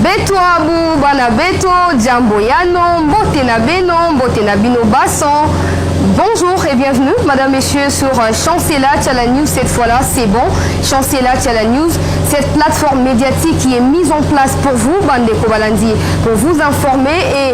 beto abu bana beto jambo yano mbote na beno mbote na bino baso Bonjour et bienvenue, Madame, Messieurs, sur euh, Chancela Tchala News. Cette fois-là, c'est bon. Chancela Tchala News, cette plateforme médiatique qui est mise en place pour vous, Bande Kobalandi, pour vous informer et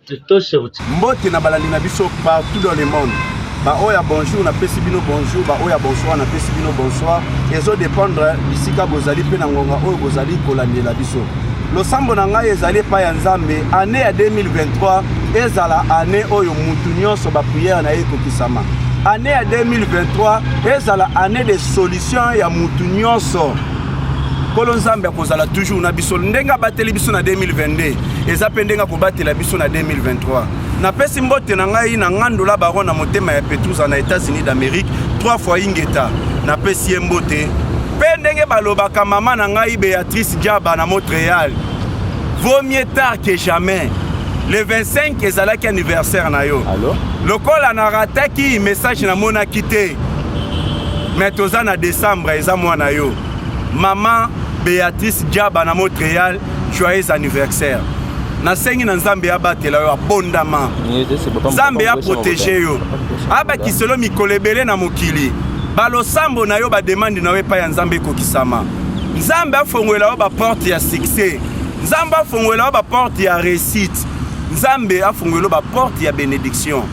Mbote na balandi na biso partout dans le monde. Ba oya bonjour na pesi bino bonjour, ba oya bonsoir na pesi bino bonsoir. Ezo dépendre bisika bozali pe na ngonga oyo bozali kolandela biso. Losambo na ngai ezali epai ya Nzambe année ya 2023 ezala année oyo mutu nyonso ba prière na ye ekokisama. Année ya 2023 ezala année de solution ya mutu nyonso. Kolo Nzambe akozala toujours na biso ndenge abateli biso na 2022. eza mpe ndenge akobatela biso na 2023 napesi mbote na ngai na ngandola baron na motema ya petrusa na états-unis d'amérique 3 fois ingeta napesi ye mbote mpe ndenge balobaka mama na ngai beatrice diaba na montréal vaut mieux tard que jamais le 25 ezalaki anniversaire na yo Allo? lokola narataki message namonaki te me toza na décembre eza mwana yo mama beatrice diaba na montréal joyeux anniversaire nasengi na nzambe abatela yo abondama nzambe aprotege yo abakiselo mikolo ebele na mokili balosambo na yo bademande na yo epai ya nzambe ekokisama nzambe afongolela yo baporte ya succès nzambe afongolela yo baporte ya réussite nzambe afongolela yo baporte ya bénédiction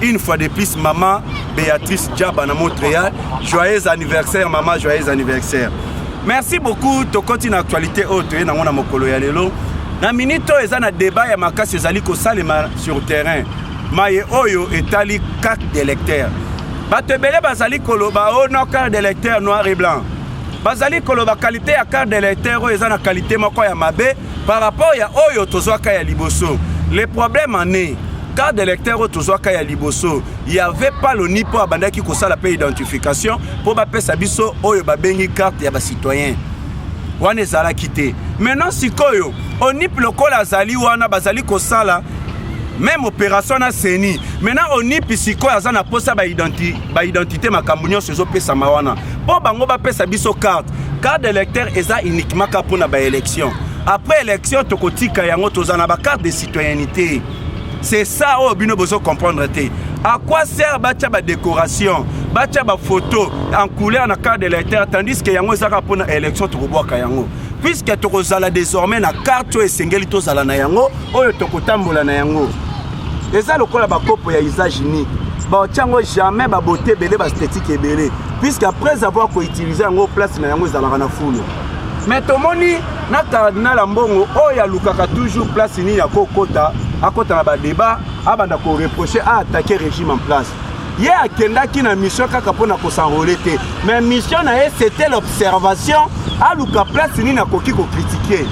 une fois de plus maman béatrice diaba na montréal joyeux anniversaire maman joyeux anniversaire merci beaucoup tokoti na actualité oyo toye nango na mokolo ya lelo na minute oyo eza na débat ya makasi ezali kosalema sur terrain maye oyo etali carte d'électeur bato ebele bazali koloba o oh no carte d'électeur noir et blanc bazali koloba kalite ya carte d'électeur oyo eza na kalite moko ya mabe par rapport ya oyo tozwaka ya liboso le problème en est carte d'électeur oyo tozwaka ya liboso Il n'y avait pas le NIPO abandaki kosala pe identification mpo bapesa biso oyo babengi carte ya citoyen. wana ezalaki te maintenant sikoyo onip lokola azali wana bazali kosala meme opération na seni maintenant onip sikoyo aza na mposa baidentité makambo nyonso ezopesama wana mpo bango bapesa biso carte carte d'électeur eza uniquement ka mpo na baélection après élection tokotika yango tozala na bacarte de citoyenneté c'est ça oyo bino bozo comprendre te à quoi sert batya badécoration batya bafoto en couleur na carte de l'électeur tandis que yango ezaka mpo na élection tokobwaka yango puiske tokozala désormais na carte oyo esengeli tozala na yango oyo tokotambola na yango eza lokola bakopo ya usage unique baotya yango jamais babote ebele baesthetique ebele puiske après avoir koutilize yango place na yango ezalaka na fulu mais tomoni na cardinal ambongo oyo alukaka toujours place nini akokota akota na badeba abanda koreproche aatake régime en place ye akendaki na mission kaka mpo na kosanrole te mais mission na ye c'était l'observation aluka place nini akoki kokritike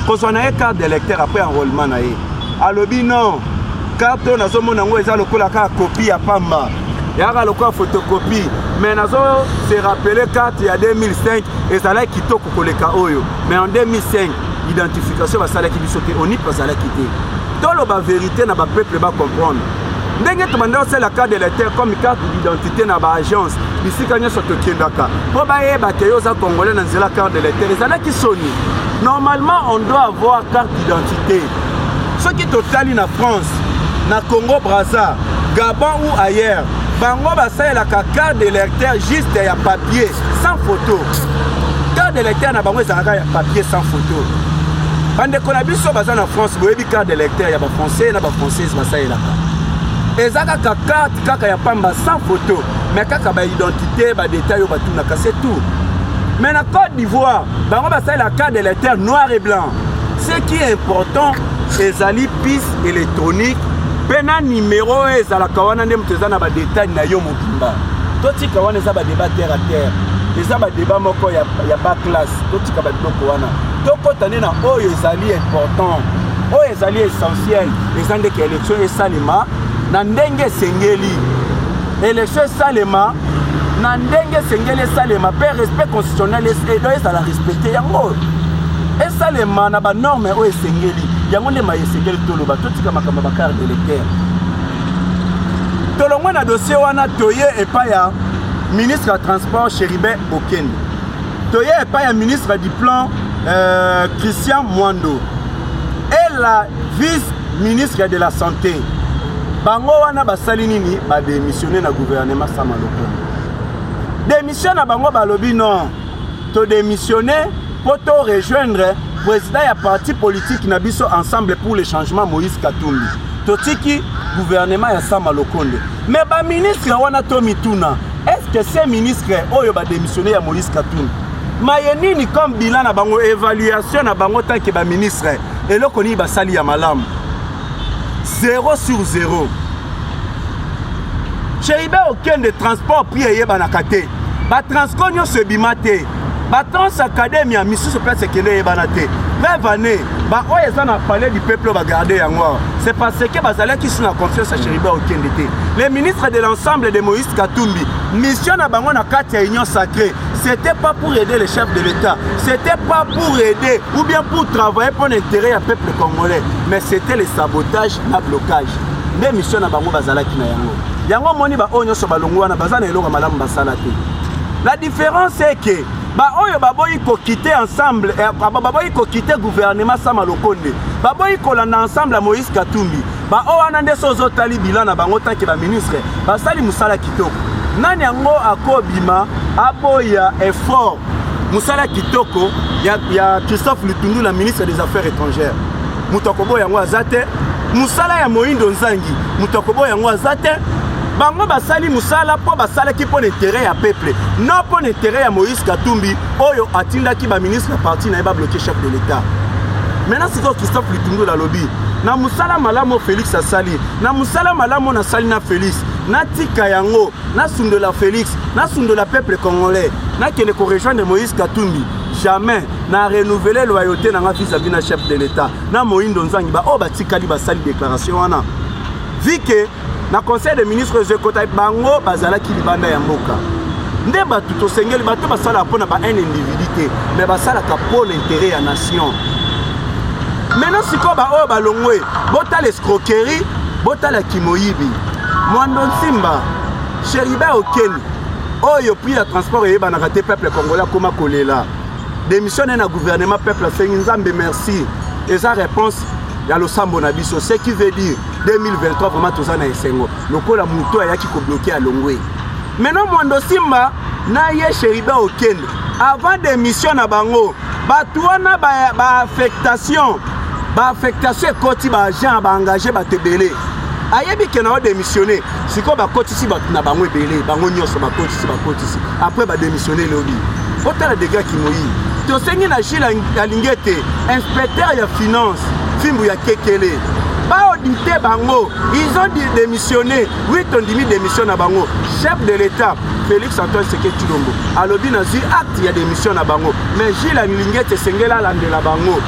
kozwa na ye carte d'électeur après enrôlement na ye alobi non carte oyo nazomona yango eza lokola kaka kopi ya pamba yaka lokola photocopie mais nazo se rappeler carte ya 2005 ezalaki kitoko koleka oyo mais en 2005 identification basalaki biso te onip bazalaki te toloba verité na bapeuple bacomprendre ndenge tobanda kosala carte de lecteur comme carte d'identité na baagence bisika nyonso tokendaka mpo bayeba te yo oza congolais na nzela carte de lecteur ezalaki soni normalement on doit avoir carte d'identité soki totali na france na congo braza gabon ou ailleurs bango basalelaka carte de lecteur juste ya papier sans photo carte de lecteur na bango ezalaka ya papier sans photo bandeko na biso baza na france boyebi carte de lecteur ya bafrançais na bafrançaise basalelaka eza kaka carte kaka ya pamba sans photo mais kaka baidentité badetail oyo batunaka se tout mais na côte d'ivoire bango basalelaka carte de lecteur noir et blanc Ce qui est important ezali piste électronique mpe na nimero oyo ezalaka wana nde moto eza na badetail na yo mobimba totika wana eza badeba terre a terre eza badeba moko ya, ya ba classe totika babiloko wana tokɔta nde na oyo ezali important oyo ezali essentiel eza ndeke élection esalema na ndenge esengeli Election esalema na ndenge esengeli esalema mpe respect constitutionnel edo ezala respecte yango esalema na banorme oyo esengeli yango nde maye esengeli toloba totika makambo ya bacarte electeur tolongwe na dossier wana toye epai ya ministre ya transport chéribin bokende toye epai ya ministre du plan euh, christian mwando et la vice ministre de la santé bango wana basali nini bademissione na gouvernement sama lokondo demission na bango balobi non todemissione mpo to rejoindre président ya parti politique na biso ensemble pour le changement moïse katumbi totiki gouvernement ya sama lokonde me baministre wana to mituna est ce que se ministre oyo bademissione ya moïse katumbi maye nini comme bilan na bango évaluation na bango tanke baministre eloko nini basali ya malamu 0 sur 0 cheibe okende transport prix eyebanaka te batransco nyonso ebima te batrans academia misusu place ekende eyebana te preuve année baoyo eza na palais du peuple oyo bagarde yango awa c'est parce que bazalaki su na confiance ya cheriba okende te le ministre de l'ensemble de moïse katumbi mission na bango na kati ya union sacrée c'était pas pour aider les chefs de l'État, c'était pas pour aider ou bien pour travailler pour l'intérêt du peuple congolais, mais c'était le sabotage, le blocage. Des missions na bango bazalaki na yango. Yango moni ba oyo nyoso balongo wana baza na eloko malamu basala te. La différence c'est que ba oyo baboyi ko quitter ensemble eh, baboyi ko quitter gouvernement sama lokonde. Baboyi kolanda ensemble à Moïse Katumbi. Ba oyo wana nde so ozotali bilan na bango tanke ba ministre basali mosala kitoko. Nani yango akobima aboya effort mosala kitoko ya, ya Christophe Lutundu na ministre des Affaires étrangères? Moto akoboya yango aza te. Mosala ya Moindo Nzangi moto akoboya yango aza te. bango basali mosala mpo basalaki mpo na intere ya peuple no mpo na intere ya moïse katumbi oyo atindaki baministre ya parti na ye babloke chef de l'état maintenant sikoyo christophe litundula alobi na mosala malamu felix asali na mosala malamu nasali na felix natika yango nasundola felix nasundola peuple congolais nakende korejoindre moïse katumbi jamais na renouvele loyauté na nga vis-à-vis na chef de l'état na moindo nzangi baoyo batikali basali déclaration wana vike na conseil de ministre ezo ekota bango bazalaki libanda ya mboka nde bato tosengeli bato basalaka mpo na ba un individu te mais basalaka mpo na interet ya nation maintenant sikoyo baoyo balongwe botala escroquerie botala kimoyibi mwando nsimba sheriba okeni oyo prix ya transport eyebanaka te peuple congolais akoma kolela démission naye na gouvernement peuple asengi nzambe merci eza réponse ya losambo na biso ce qui veut dire 2023 vraiment toza na esengo lokola moto ayaki kobloke alongwe maintenant mondo simba na ye sheriba okende avant démission na bango bato wana baaffectation ba baaffectation ekoti baagent baengage bato ebele ayebi ke nao démissionne sikoyo bakotisi bato na bango ebele bango nyonso bakotisi bakotisi après badémissionne lobi otala dega kimoyi tosengi na gile alingi ete inspecteur ya finance fimbu ya kekele baodite bango ils ont démissionné oui tondimi démission na bango chef de l'état félix antoine seke cilombo alobi nazwi acte ya démission na bango mais gile alingete esengeli alandela bango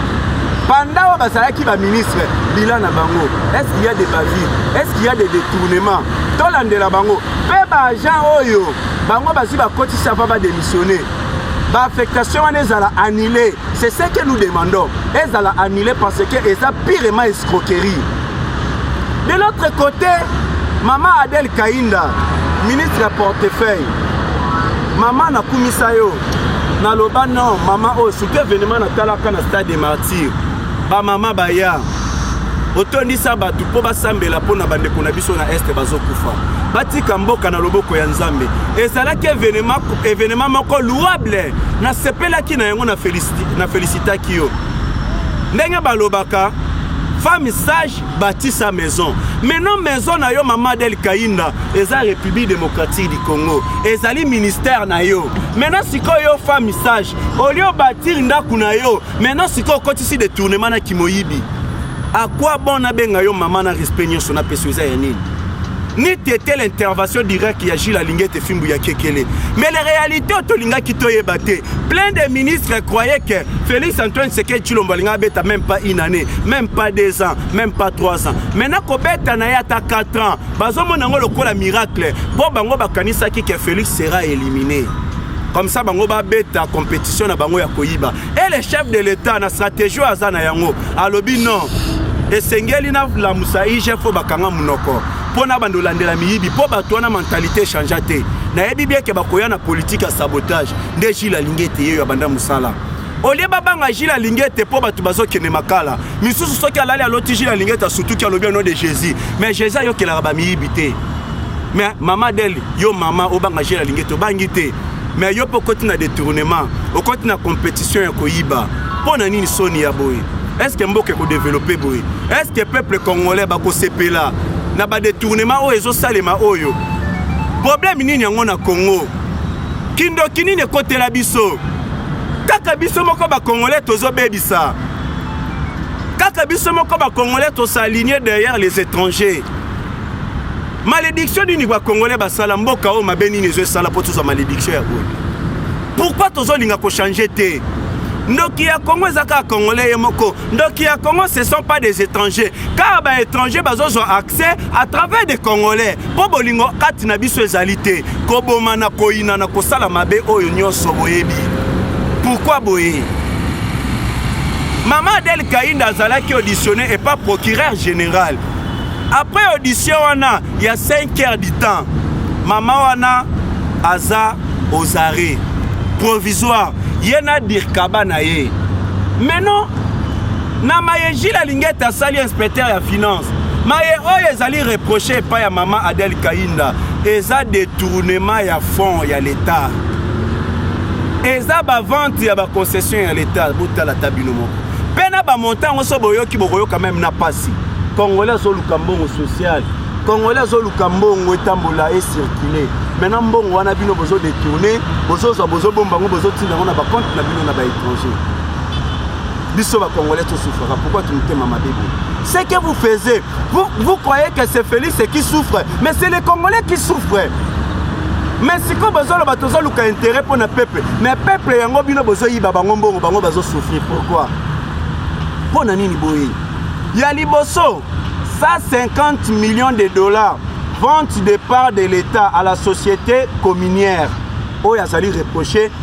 banda oyo bazalaki baministre bila na bango est ce qu'il y a des bavures est ce qu'il y a des détournements tolandela bango mpe baagent oyo bango bazwi bakotisa mpo badémissionne ba affectation wana ezala annulé c'est ce que nous demandons ezala annulé parce que eza pirement escroquerie de l'autre côté mama adel kainda ministre ya portefeuille mama nakumisa yo naloba non mama oyo surtout événement natalaka na stade de martyr bamama baya otondisa bato mpo basambela mpo na bandeko na biso na este bazokufa batika mboka na loboko ya nzambe ezalaki evenema moko louable nasepelaki na yango na felisitaki yo ndenge balobaka femme sage bâtit sa maison maintenant maison na yo mama adel kainda eza république démocratique du congo ezali ministère na yo maintenant sikoyo yo femme sage olio bâtir ndako na yo maintenant sikoyo okotisi detournement na kimoyibi à quoi bon nabenga yo mama na respect nyonso napesi yo eza ya nini ni tete l'intervention directe ya gile alingi ete fimbu ya kekele mais la réalité oyo tolingaki toyeba te plein de ministres croyait que félix antoine seke cilombo alingi abeta même pas une année même pas deux ans même pas trois ans maintenant kobeta na ye ata 4 ans bazomona yango lokola miracle mpo bango bakanisaki que félix sera éliminé comme ça bango babeta compétition na bango ya koyiba et le chef de l'état na stratégie oyo aza na yango alobi non esengeli nalamusa igf oyo bakanga monoko mpo na bando olandela miyibi mpo bato wana mentalite echangea te nayebi bieke bakoya na politike ya sabotage nde jile alingi ete yeyo abanda mosala olie babanga jile alingi ete mpo bato bazokende makala misusu soki alali aloti jile alingi ete asutuki alobi ono de jésus mais jésus ayokelaka bamiyibi te mais mama deli yo mama obanga jile alingi ete obangi te mais yo mpe okoti na détournement okoti na compétition ya koyiba mpo na nini soni ya boye estce mboka ekodevelope boye estce peuple congolais bakosepela na badetournement oyo ezosalema oyo problème nini yango na congo kindoki nini ekotela biso kaka biso moko ba congolais tozo bebisa kaka biso moko ba congolais to s'aligner derrière les étrangers malédiction nini ba congolais basala mboka oyo mabe nini ezo esala mpo tozwa malédiction ya boye pourquoi tozolinga kochange te ndoki ya congo eza kaka congolais ye moko ndoki ya congo ce sont pas des étrangers car ba étrangers bazozwa accès à travers des congolais mpo bolingo kati na biso ezali te kobomana koyinana kosala mabe oyo nyonso boyebi pourkui boye mama adel kainda azalaki auditionne epa procureur général après audition wana ya 5 heures du temps mama wana aza aux arrêts provisoire ye na dirkaba na ye mais non na maye jile alingete asali inspecteur ya finance maye oyo ezali reproche epai ya mama adel kainda eza detournement ya fonds ya l'etat eza bavente ya baconcession ya l'etat botala ta bino moko mpe na bamonta yango so boyoki bokoyoka meme na pasi congolais azoluka mbongo sociale congolais azoluka mbongo etambola ecircule maintenant mbongo wana bino bozodetourne bozozwa bozobomba yango bozotinda yango na bacompte na bino na baétranger biso ba congolais to souffraka pourquoi tu mutema mabe boye ce que vous faisiez vous, vous croyez que c'est Félix qui souffre mais c'est les congolais qui souffrent mais sikoyo bozoloba tozoluka intérêt mpo na peuple mais peuple yango bino bozoyiba bango mbongo bango bazosouffrir pourquoi mpo na nini boye ya liboso 150 millions de dollars vente de part de l'état à la société communière oyo azali reproche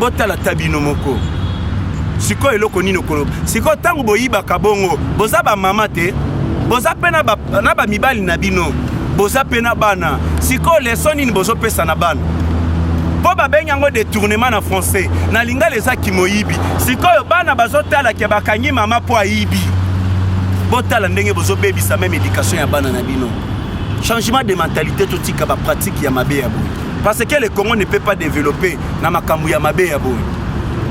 botala ta bino moko sikoyo eloko nini okoloba sikoyo ntango boyibaka bongo boza bamama te boza mpe na bamibali na bino boza mpe na bana sikoyo leso nini bozopesa na bana mpo babengi yango detournement na français na lingala eza kimoyibi sikoyo bana bazotala ke bakangi mama mpo ayibi botala ndenge bozobebisa meme éducation ya bana na bino changement de mentalité totika bapratike ya mabe ya boye parce que le congo ne peut pas développer na makambo ya mabe ya boye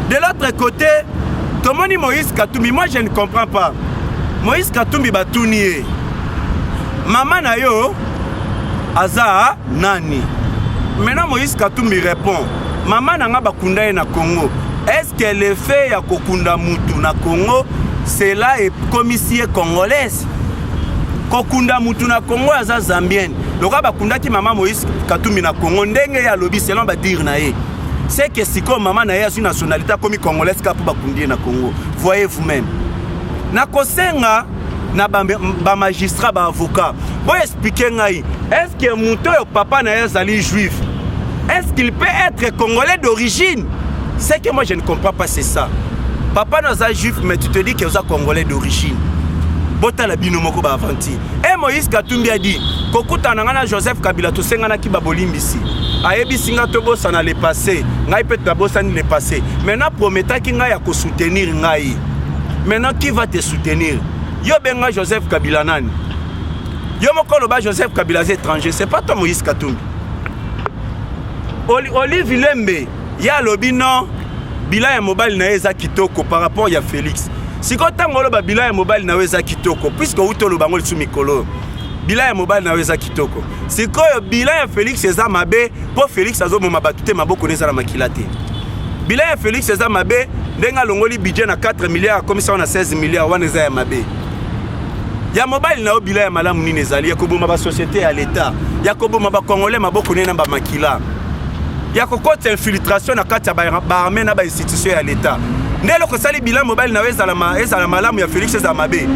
de l'autre côté tomoni moïse katumbi moi je ne comprends pas moïse katumbi batuni ye mama na yo aza nani maintenant moïse katumbi répond mama na nga bakunda ye na congo est ce que le fait ya kokunda mutu na congo cela ekomisi ye congolaise kokunda mutu na congo aza zambienne lokola bakundaki mama moïse katumbi na congo ndenge ye alobi selon badire na ye seke sikoyo mama na ye azwi nationalité akomi congolaise kaka mpo bakundi ye na congo voyez vous même nakosenga na bamagistrat ba baavocat boexplike ngai estce que moto oyo papa na ye azali juif est-ce qu'il peut être congolais d'origine Ce que moi je ne comprends pas c'est ça. Papa naza juif mais tu te dis que oza congolais d'origine. botala bino moko baaventure e moïse katumbi adi kokutana ngai na joseph kabila tosenganaki babolimbisi ayebisi ngai tobosana le passé ngai mpe nabosani le passé maintenant prometaki ngai ya kosoutenir ngai maintenant qui va te soutenir yo benga joseph kabila nani yo moko oloba joseph kabila aza étranger c'est pas toi moïse katumbi olive lembe ye alobi non bilan ya mobali na ye eza kitoko par rapport ya félix sikoyo ntango oloba bilan ya mobali na yo eza kitoko puiske outi oloba yango lisu mikolo oyo bilan ya mobali na yo eza kitoko sikoyo bilan ya félix eza mabe mpo félix azoboma bato te maboko na eza na makila te bilan ya félix eza mabe ndenge alongoli budget na 4 milliards akomisango na 16 milliards wana eza ya mabe ya mobali na yo bila ya malamu nini ezali ya koboma basociété ya leta ya koboma bacongolais maboko ne na bamakila ya kokota infiltration na kati ya baarme na bainstitution ya leta nde eloko esali bila mobali na yo ezala malamu ya félix ezala mabe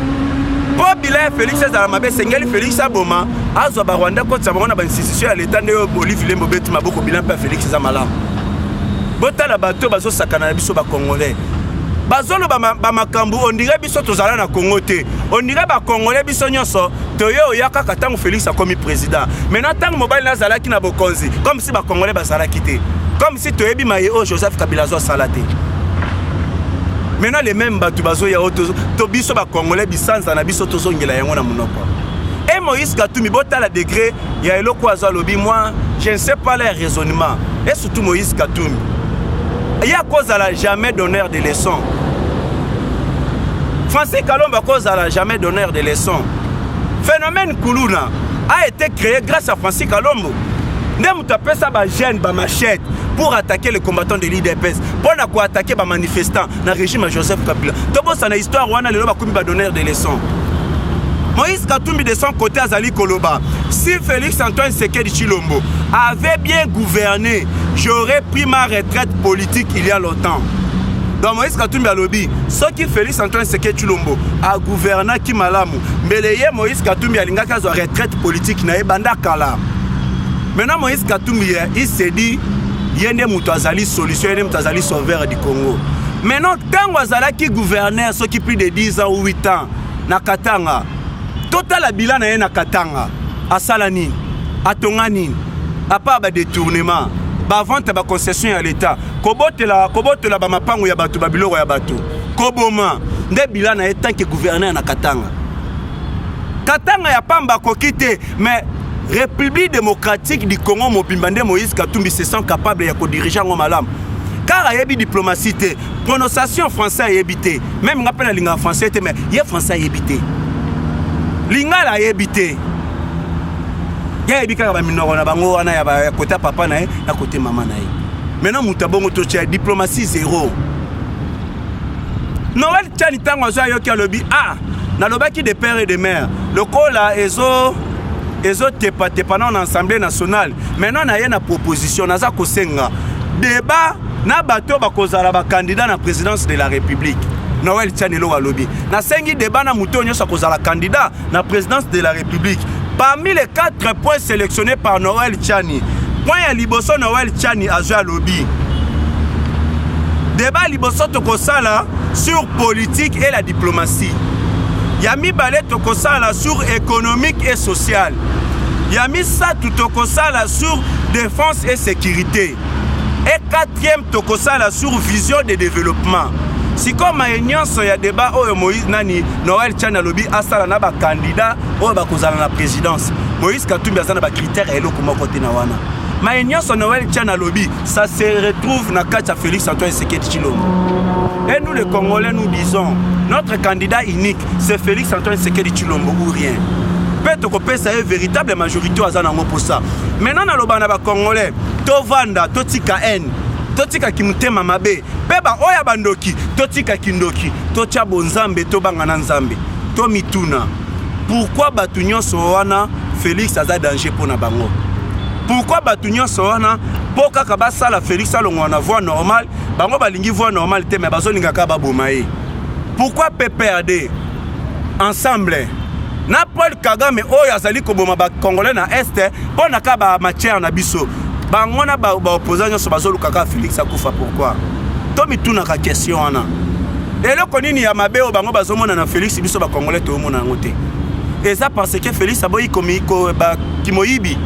mpo bila ya félix ezala mabe esengeli félix aboma azwa barwanda kotisa bango na bainstitution ya leta nde oyo olive lembo beti maboko bila mpe ya félix eza malamu botala bato bazosakana na biso bacongolais bazoloba bamakambo ondire biso tozala na congo te ondire bakongole biso nyonso toye oya kaka ntango félix akomi président maintenant ntango mobali na azalaki na bokonzi comme si bakongole bazalaki te comme si toyebi maye oyo joseph kabila azo asala te maintenant les mêmes bato bazoya oyo to biso bakongole bisanza na biso tozongela yango na monoko e moïse katumi botala degre il y a eloko azo alobi moi je ne sais pas leur raisonnement et surtout Moïse Katumbi ye akozala jamais donneur de leçon Francis Kalomba akozala jamais donneur de leçon phénomène kuluna a été créé grâce à Francis Kalombo nde moto apesa bagene bamachete pour attaquer les combattants de l'idps mpo na koattaquer bamanifestant na régime ya joseph kabila tobosana histoire wana lelo bakomi badonneur de leçon moïse katumbi de son côté azali koloba si félix antoine sekedi chilombo avait bien gouverné j'aurais pris ma retraite politique il y a longtemps donc moïse katumbi alobi soki félix antoine seke chilombo agouvernaki malamu mbele ye moïse katumbi alingaki azwa retraite politique na ye banda kala maintenant moïse katumbi il se dit ye nde moto azali solution ye nde moto azali sauveur Congo. Maintenant, tango azalaki gouverneur soki plus de 10 ans ou 8 ans na Katanga. Totala bilan na ye na Katanga. Asala nini? Atonga nini? À part ba détournement, ba vente ba concession ya l'État, kobotela kobotela ba mapango ya bato ba biloko ya bato, koboma nde bilan na ye tant que gouverneur na Katanga. Katanga ya pamba akoki te mais république démocratique du congo mobimba nde moïse katumbi se sent capable ya kodirige yango malamu car ayebi diplomatie te prononciation français ayebi te meme nga mpe nalingaka français te mais ye français ayebi te lingala ayebi te ye ayebi kaka baminoko na bango wana ya kota papa na ye na kote mama na ye maintenant moto abongo totya diplomatie zero noel chani ntango azwi ayoki alobi a ah, nalobaki de père et de mère lokola ezo ezotepatepa nao na assemblée nationale maintenant naye na proposition naza kosenga débat na bato oyo bakozala bakandidat na présidence de la république noel chani eloko alobi nasengi débat na moto oyo nyonso akozala candidat na présidence de la république parmi les quatre points sélectionnés par noël chani point ya liboso noël chani azwi alobi deba liboso tokosala sur politique et la diplomatie ya mibale tokosala sur économique et sociale ya misato tokosala sur défense et sécurité e quatrième tokosala sur vision de développement sikoyo maye nyonso ya deba oyo moïse nani Noël Tchani alobi asala na ba candidats oyo bakozala na présidence. Moïse Katumbi aza na ba critères ya eloko moko te na wana. Maye nyonso Noël Tchani alobi, ça se retrouve na kati ya Félix Antoine Tshisekedi Tshilombo. Et nous les Congolais nous disons, notre candidat unique c'est Félix Antoine Tshisekedi Tshilombo ou rien. mpe tokopesa ye véritable majorité oyo aza nango mposa maintenant naloba na bacongolais tovanda totika haine totika kimotema mabe mpe baoyo ya bandoki totika kindoki totya bonzambe tobanga na nzambe tomituna pourkui bato nyonso wana félix aza danger mpo na bango pourkui bato nyonso wana mpo kaka basala félix alongwa na voie normale bango balingi voie normale te me bazolingaka baboma ye pourkui pprd ensemble na paul kagame oyo azali koboma bacongolais na este mpo na ka bamatière na biso bango na baopposant ba nyonso bazoluka kaka félix akufa pourkui tomitunaka question wana eloko nini ya mabe oyo bango bazomona na félix biso bacongolais toyomona yango te eza parce que félix aboyi kimoyibi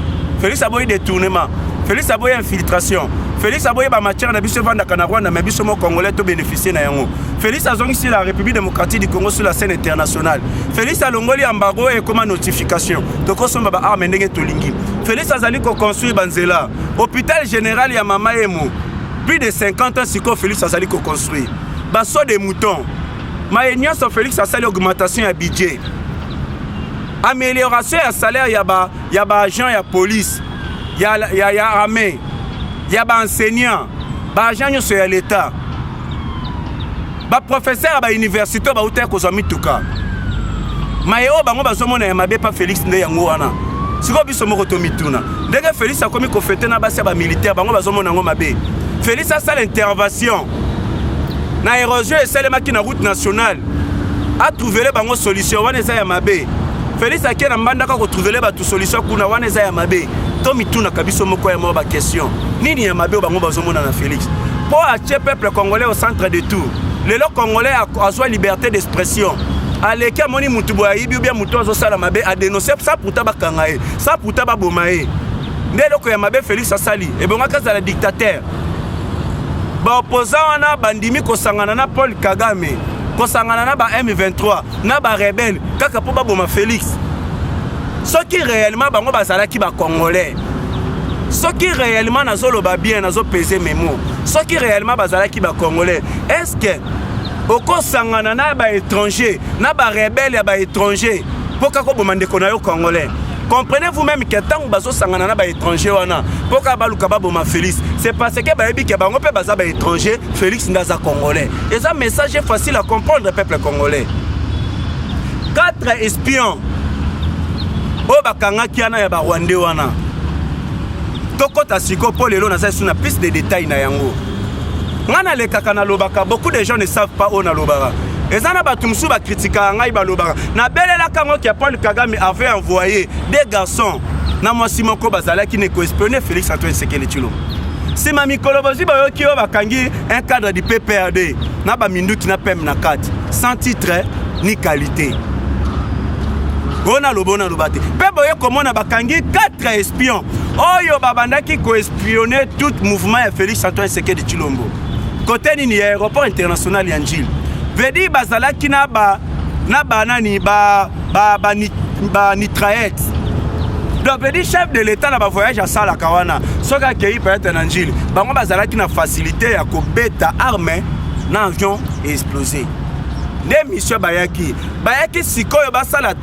félix aboyi détournement félix aboyi infiltration félix aboyi bamatière na biso evandaka na rwanda me biso mo congolais tobénéficie na yango Felix azongisi la République démocratique du Congo sur la scène internationale. Felix alongoli embargo et comme notification. Tokosomba ba armes ndenge tolingi. Felix azali ko construire banzela. Hôpital général ya Mama Emo. Plus de 50 ans siko Felix azali ko construire. Baso des moutons. Maye nyonso Felix asali augmentation ya budget. Amélioration ya salaire ya ba ya ba agents ya police, ya ya, ya armée, ya ba enseignants, ba agents nyonso ya l'État. baprofesere ya bauniversité bauta ya kozwa mituka maye oyo bango bazomona ya mabe pa félix nde yango wana sikoyo biso moko tomituna ndenge félix akomi kofete na basi ya bamilitaire bango bazomona yango mabe félix asala intervention na érosion esalemaki na route nationale atrouvele bango solution wana eza ya mabe félix ake na mbandaka kotrouvele bato solution kuna wana eza ya mabe tomitunaka biso moko ya moko bakestion nini ya mabe oyo bango bazomona na félix mpo atie peuple congolais au centre de tout lelo congolais azwa liberté d'expression aleki amoni mutu boye ayibi ubia mutu azosala mabe adenonse sa puta bakanga ye sa puta baboma ye nde eloko ya mabe félix asali ebongaki azala dictateur baopposant wana bandimi kosangana na paul kagame kosangana na ba m23 na barebele kaka mpo baboma félix soki réellement bango bazalaki bacongolais soki réellement nazoloba bien nazopese memo soki réellement bazalaki bacongolais est ce que okosangana na baétranger na barebele ya baétranger mpo kaka oboma ndeko na yo congolais comprenez vous même ke ntango bazosangana na baétranger wana mpo kaka baluka baboma félix c'est parce que bayebi ke bango mpe baza baétranger félix nde aza congolais eza message facile à comprendre peuple congolais 4 espion oyo bakangaki wana ya barwande wana tokɔta siko mpo lelo naza lisusu na piste de détail na yango ngai nalekaka nalobaka beaucoup de gens ne savent pas oyo nalobaka eza na bato mosusu bakritikaka ngai balobaka nabelelaka yango ke paul kagame avait envoyé des garçons na mwasi moko bazalaki ne koespionne félix antoine sekele tshilo nsima mikolo bozwi bayoki oyo bakangi un cadre du pprd na baminduki na peme na kati sans titre ni qualité oyo naloba oyo naloba te mpe boye komona bakangi 4 espion oyo babandaki koespionne tout mouvement ya félix antoine sekedi chilombo kote nini ya aéroport international ya njili vedi bazalaki na ba na banani ba, ba, ba, ba nitraete donc vedi chef de l'état na bavoyage asalaka wana soki akei peut-être na njili bango bazalaki na facilité ya kobeta arme na avion explose nde mission bayaki bayaki sikoyo basala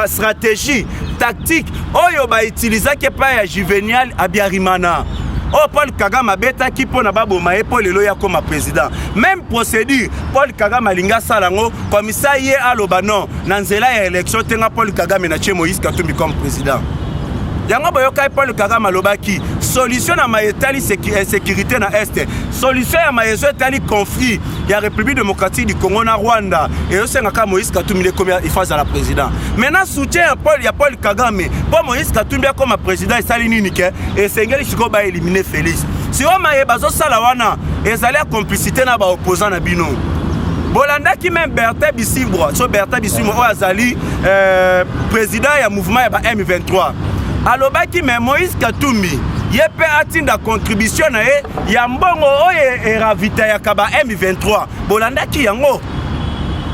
stratégie tactique oyo baitilizaki epai ya juvenial abiarimana oyo oh, paul kagame abetaki mpo na baboma ye mpo lelo ye akoma président même procédure paul kagame alingi asala yango komisa ye aloba non na nzela ya élection te nga paul kagame na tie moïse katumbi comme président yango boyokaki paul kagame alobaki solution na maye etali insécurité na este solution ya maye ezo etali conflit ya république démocratique du congo na rwanda ezosenga kaka moïse katumbi ekomi ifa azala président mais na soutien ya paul, ya paul kagame mpo moïse katumbi akoma président esali nini ke esengeli sikoyo baelimine félix sikoyo maye bazosala wana ezali ya complicité na baopposant na bino bolandaki meme bertin bisibwa so bertin bisibwa oyo azali euh, président ya mouvement ya ba m23 alobaki me moïse katumbi ye mpe atinda contribution na ye ya mbongo oyo eravitayaka ba M23 bolandaki yango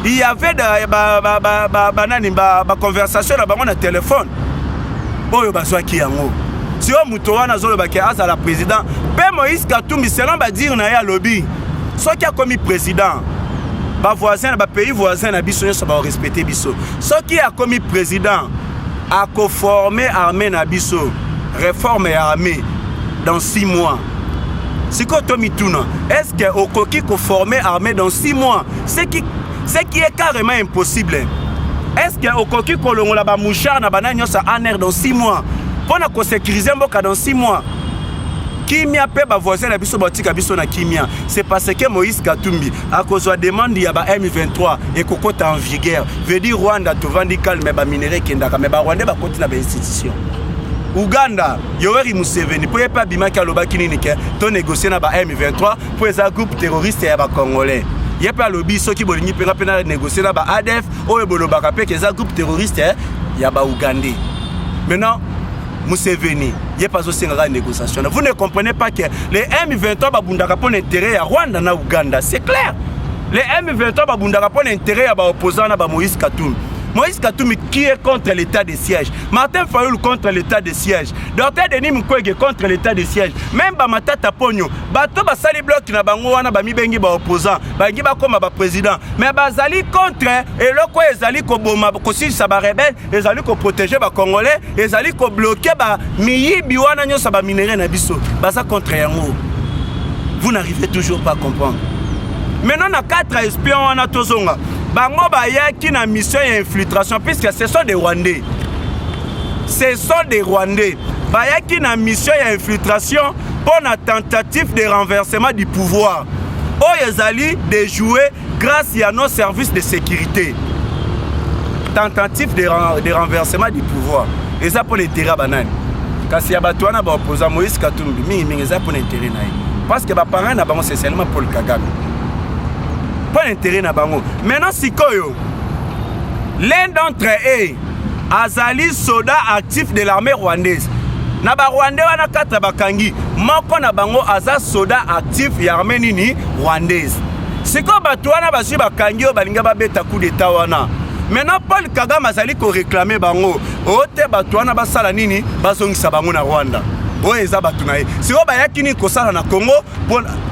il y avait banani ba, ba, ba, ba, ba, nani, ba, ba conversation na bango na telefone oyo bazwaki yango sio moto wana azolobaki azala président mpe moïse katumbi selon badire na ye alobi soki akomi président bavoisin na bapays voisin na biso nyonso baorespecte biso soki akomi président a ko former armée na biso reforme ya armée dans 6 mois sikoyo tomituna est ce que okoki koformer armée dans 6 mois ce qui, ce qui est carrément impossible est ce que okoki kolongola bamouchard na banani nyonso anr dans 6 mois mpo na kosécurise mboka dans 6 mois kimia mpe bavoisin na biso batika biso na kimia c'est parce que moïse katumbi akozwa demande ya ba M23 ekokota en vigueur veut dire Rwanda tovandi calme ba minerais ekendaka mais ba Rwandais bakoti na ba institution Uganda Yoweri Museveni mpo ye mpe abimaki alobaki nini ke to négocier na ba M23 mpo eza groupe terroriste ya ba Congolais ye mpe alobi soki bolingi mpenga mpe na négocier na ba ADF oyo bolobaka mpe ke eza groupe terroriste ya ba Ugandais maintenant Museveni ye pas au Sénégal négociation. Vous ne comprenez pas que les M23 babundaka pour l'intérêt à Rwanda na Ouganda, c'est clair. Les M23 babundaka pour l'intérêt à ba opposants na ba Moïse Katumbi. Moïse Katumbi qui est contre l'état de siège. Martin Fayoul contre l'état de siège. Docteur Denis Mukwege contre l'état de siège. Même Bamatata Pogno, bato basali bloc na bango wana bamibengi ba opposant, bangi bakoma ba président. Mais bazali contre eloko ezali koboma kosilisa ba rebelle ezali ko protéger ba congolais ezali ko bloquer ba miyibi wana nyosa ba minerais na biso baza contre yango vous n'arrivez toujours pas à comprendre maintenant na 4 espion wana tozonga bango bayaki na mission ya infiltration puisque ce sont des rwandais ce sont des rwandais bayaki na mission ya infiltration mpo na tentative de renversement du pouvoir oyo ezali dejouer Grâce ya nos services de sécurité, tentative de, ren de renversement du pouvoir eza mpo na intérêt ya banani kasi ya bato wana baopoza moïse katumbi mingimingi eza mpo na intérêt na ye parce que baparent na bango sesialement paul kagame mpo na intérêt na bango maintenant sikoyo l'un d'entre eux azali soda actif de l'armée rwandaise na barwandais wana katra bakangi moko na bango aza soda actif ya armée nini rwandaise sikoyo bato wana bazwi bakangi oyo balinga babeta coup d'etat wana maintenant paul kagame azali koreklame bango o oh, te bato wana basala nini bazongisa bango na rwanda oyo eza bato na ye sikoyo bayaki nini kosala na congo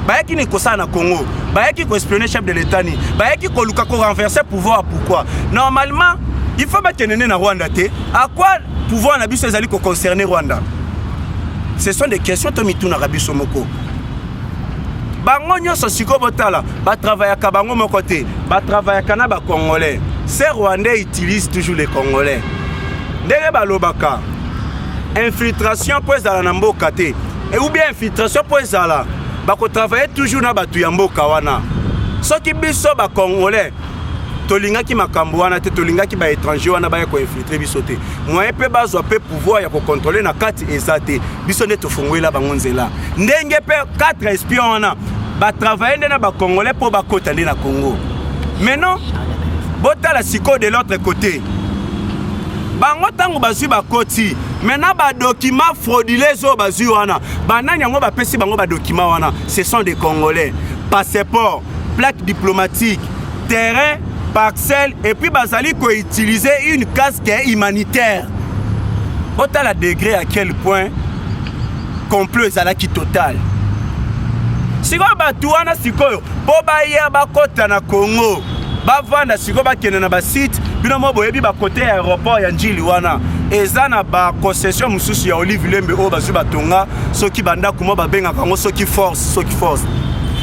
bayaki nini kosala na congo bayaki koespionne chef de l'état nini bayaki koluka korenverse pouvoir pourquoi normalement il faut bakende nde na rwanda te à quoi pouvoir na biso ezali koconcerne rwanda ce sont des questions to mitunaka biso moko bango nyonso sikoyo botala batravayaka bango moko te batravayaka na bacongolais ce rwandais utilise toujours les congolais ndenge balobaka infiltration mpo ezala na mboka te e, ou bien infiltration mpo ezala bakotravaille toujours na bato ya mboka wana soki biso bacongolais tolingaki makambo wana te tolingaki baétranger wana baya koinfiltre biso te moyen mpe bazwa mpe pouvoir ya kokontrole na kati eza te biso nde tofungwela bango nzela ndenge mpe 4 espion wana batravaille nde na bacongolais mpo bakota nde na congo mais non botala sikoyo de l'autre côté bango ntango bazwi bakoti me na badokima fraudules oyo bazwi wana banani yango bapesi bango badokima wana ce sont des congolais passeport plaque diplomatique terrain parcelle epuis bazali koutilize une casque humanitaire botala degre à quel point complot ezalaki total sikoyo bato wana sikoyo mpo baya bakota na congo bavanda sikoyo bakende na basite bino mo boyebi bakote ya aéroport ya njili wana eza na baconcession mosusu ya olive lembe oyo bazwi batonga soki bandako mwa babengaka yango soki force soki force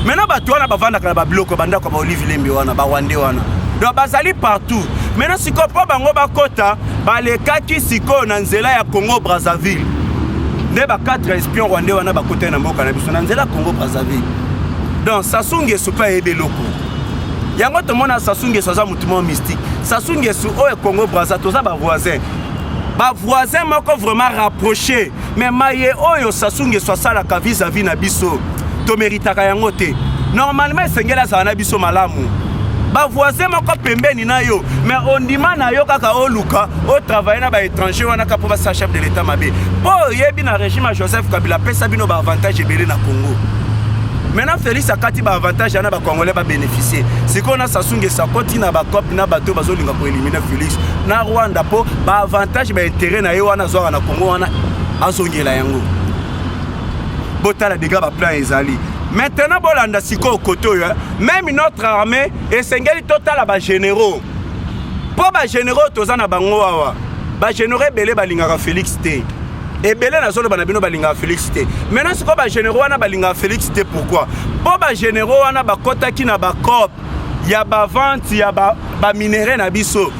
maintenant bato wana bavandaka na babiloko bandako ya baolive lembe wana barwande wana donc bazali partout maintenant sikoyo mpo bango bakota balekaki sikoyo na nzela ya congo brazzaville nde ba 4 espion rwandais wana bakotaki na mboka na biso na nzela congo brazzaville donc sasu ngesu mpe ayebi eloko yango tomona sasu ngesu aza motu moko mystique sasu ngesu oyo oh, congo brazza toza bavoisin bavoisin moko vraiment rapproché mais maye oyo oh, sasu ngesu asalaka vis-à-vis na biso tomeritaka yango te normalement esengeli azala na biso malamu bavoisin moko pembeni na yo mais ondima na yo kaka oluka o travaille na ba étranger wana ka mpo basala chef de l'état mabe mpo oyebi na régime ya joseph kabila apesa bino ba avantage ebele na congo maintenant félix akati ba avantage yana bacongolais babénéficie sikoyo na sasungesa koti na bacope na bato bazolinga koelimine félix na rwanda mpo ba avantage ba intérêt na ye wana azwaka na congo wana azongela yango botala degré baplan ezali maintenant bolanda sikoyo kote oyo meme notre armée esengeli totala ba généraux mpo ba généraux toza na bango awa ba généraux ebele balingaka félix te ebele nazoloba na bino balingaka félix te maintenant sikoyo ba généraux wana balingaka félix te pourquoi mpo ba généraux wana bakotaki na bacope ya bavente ya baminerai ba na biso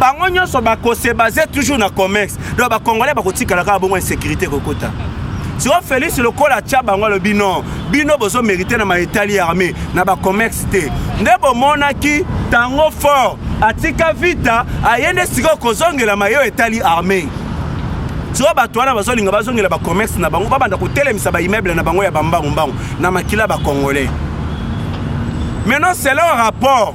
bango nyonso bakose base toujours na commerce donc bacongolais bakotikala kaka bongo insécurité kokota siko félix lokola atya bango alobi non bino bozomérite na maetali ya armée na bacommerce te nde bomonaki tango fort atika vita aye nde sikoyo kozongela mayo etali armée siko bato wana bazolinga bazongela bacommerce na bango babanda kotelemisa baimmeuble na bango ya bambangumbangu na makila bacongolais maintenant selon rapport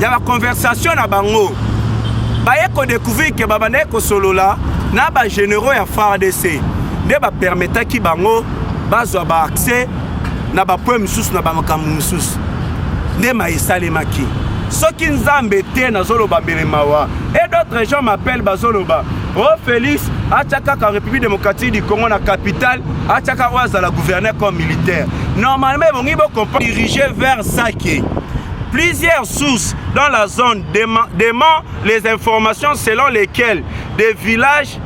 ya ba conversation na bango baye ko découvrir que babandaki kosolola na ba généraux ya FARDC nde ba permetaki bango bazwa ba accès na ba point mosusu na ba makambo mosusu nde ma esalemaki soki nzambe te nazoloba mbele mawa et d'autres gens m'appellent bazoloba o oh, félix atya kaka république démocratique du congo na capitale atya kaka oyo azala gouverneur comme militaire normalement ebongi bocomprendre dirige vers sake plusieurs sources dans la zone demandent les informations selon lesquelles des villages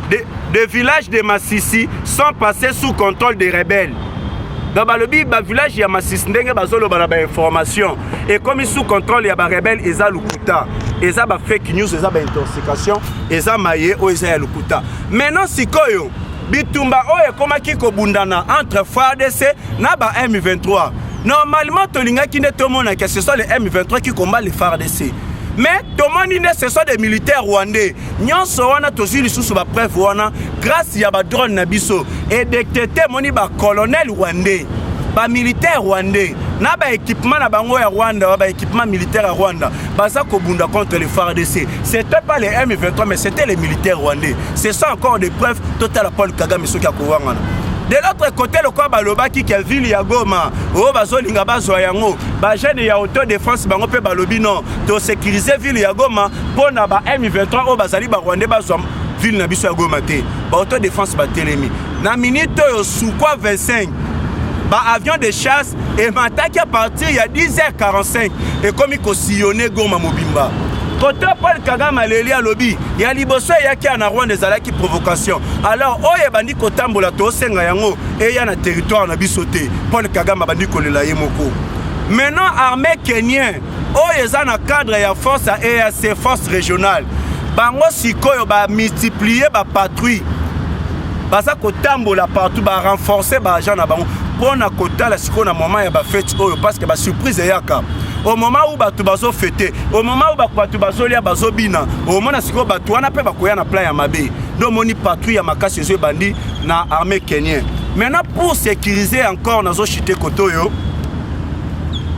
de, de villages de massissi sont passés sous contrôle des rebelles donc balobi bavillage ya masisi ndenge bazoloba na bainformation ekomi sous contrôle ya barebele eza lokuta eza bafake news eza baintoxication eza maye oyo eza ya lokuta maintenant sikoyo bitumba oyo ekomaki kobundana entre fardc na ba m23 normalement tolingaki nde tomona ke ce soit le m23 qui combat le fardc mais tomoni nde ce soit des militaires rwandais nyonso wana tozwi lisusu bapreuve wana grâce ya badrone na biso edetete emoni bacolonel rwandais bamilitaire rwandais na baekipement na bango ya rwanda wa baekipement militaire ya rwanda baza kobunda contre le fardc c'était pas les m23 mais c'était les militaires rwandais ce sont encore des preuves totala paul kagame soki akowangana de l'autre côté lokola balobaki ke ville ya goma oyo bazolinga bazwa yango bajeune ya auto défense bango mpe balobi non tosécurise ville ya goma mpo na ba m23 oyo bazali barwandais bazwa ville na biso ya goma te ba auto défense batelemi Na minute oyo Sukhoi 25 ba avion de chasse emataki a partir ya 10h45 ekomi kosillone Goma mobimba. Koto Paul Kagame aleli alobi ya liboso eyaki ya na Rwanda ezalaki provocation. Alors oyo ebandi kotambola tosenga yango eya na territoire na biso te. Paul Kagame abandi kolela ye moko. Maintenant armée kenien oyo eza na cadre ya force ya eac force régionale bango sikoyo bamultiplie bapatrouille baza kotambola partout barenforce baagent na bango mpo na kotala sikoyo na moment ya bafete oyo parceke basurprise eyaka au moment où bato bazofete au moment où bato bazolia bazobina omona sikoyo bato wana mpe bakoya na plan ya mabe nde omoni patrouille ya makasi ezo ebandi na armée kenien maintenant pour sécuriser encore nazochite kote oyo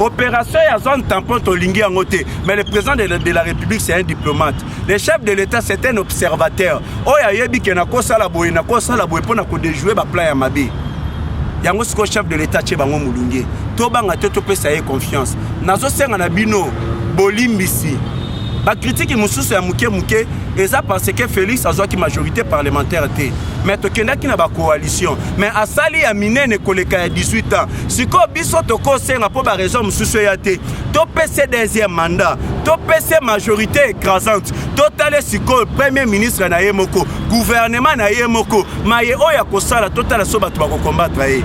Opération ya zone tampon tolingi yango te mais le président de la, de la république c'est un diplomate le chef de l'état c'est un observateur oyo ayebi ke nakosala boye nakosala boye mpo na kodejouer baplan ya mabe yango sikoyo chef de l'état tie bango molunge tobanga te topesa ye confiance nazosenga na bino bolimbisi bakritiki mosusu ya moke moke eza parce que félix azwaki majorité parlementaire te mais tokendaki na bacoalition mais asali ya minene koleka ya 18 ans sikoyo biso tokosenga mpo baregion mosusu eya te topese deuxième mandat topese majorité écrasante totale sikoyo premier ministre na ye moko gouvernement na ye moko maye oyo akosala totala so bato bakokombatra ye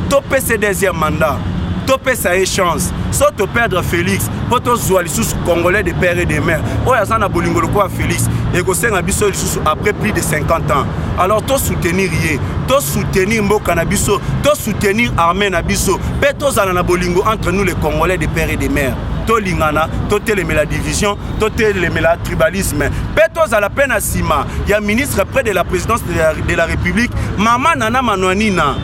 topese deuxième mandat topesa ye chance so toperdre félix mpo tozwa lisusu congolais de père et de mère oyo aza na bolingo lokola félix ekosenga biso lisusu après plus de 50 ans alors to soutenir ye to soutenir mboka na biso to soutenir armée na biso mpe tozala na bolingo entre nous les congolais de père et de mère tolingana totelemela division totelemela tribalisme mpe tozala mpe na nsima ya ministre près de la présidence de la, de la république mama nana manwanina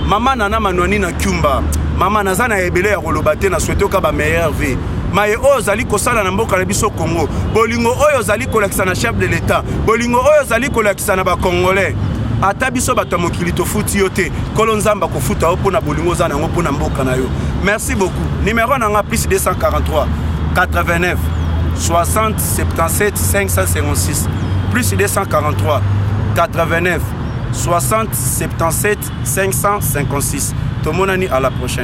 mama nana manwanina kyumba mama naza na ebele ya koloba te na swete oka ba meilleur vie maye oyo ozali kosala na mboka na biso Congo, bolingo oyo ozali kolakisa na chef de l'etat, bolingo oyo ozali kolakisa na bakongolais ata biso bato ya mokili tofuti yo te nkolo nzambe akofuta yo mpo na bolingo oza na yango mpo na mboka na yo merci beaucoup numero na nga plus 243 89 60 77 556 plus 243 89 60 77 556 tomonani à la prochaine